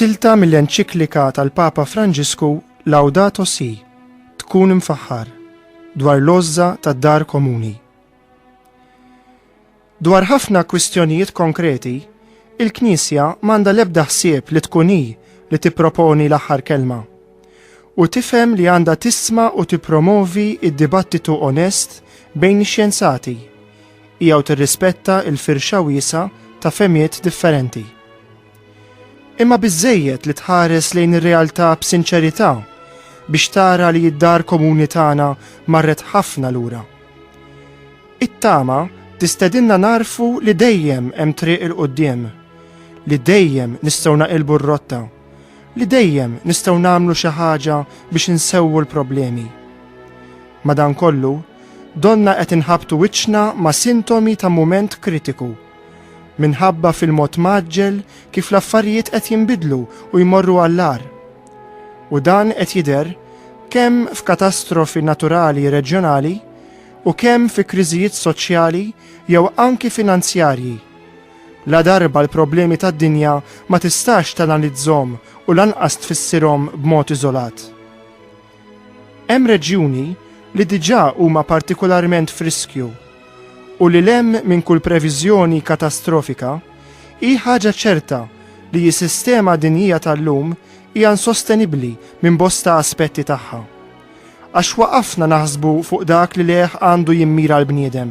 Silta mill-enċiklika tal-Papa Franġisku Laudato Si, tkun imfaħħar, dwar l-għożża tad-dar komuni. Dwar ħafna kwistjonijiet konkreti, il-Knisja m'għandha l-ebda ħsieb li tkun hi li tipproponi l-aħħar kelma. U tifhem li għandha tisma' u tippromovi d-dibattitu onest bejn ix-xjenzati. Hija u tirrispetta l-firxa wiesgħa ta' fehmiet differenti. Imma biżżejjed li tħares lejn ir-realtà b'sinċerità biex tara li d-dar komuni tagħna marret ħafna lura. It-tama tistedinna nagħrfu li dejjem hemm triq 'il quddiem, li dejjem nistgħu naqilbu r-rotta, li dejjem nistgħu nagħmlu xi ħaġa biex insewwu l-problemi. Madankollu, donnha qed inħabbtu wiċċna ma' sintomi ta' mument kritiku. Minħabba fil-mod mgħaġġel kif l-affarijiet qed jinbidlu u jmorru għall-agħar. U dan qed jidher kemm f'katastrofi naturali reġjonali u kemm fi kriżijiet soċjali jew anki finanzjarji. Ladarba l-problemi tad-dinja ma tistax tanalizzhom u lanqas tfissirhom b'mod iżolat. Hemm reġjuni li diġà huma partikularment f'riskju u li 'l hemm minn kull previżjoni katastrofika, hi ħaġa ċerta li jsistema dinjija tal-lum hija insostenibbli minn bosta aspetti tagħha. Għax waqafna naħsbu fuq dak li lejh għandu jimmira l-bniedem.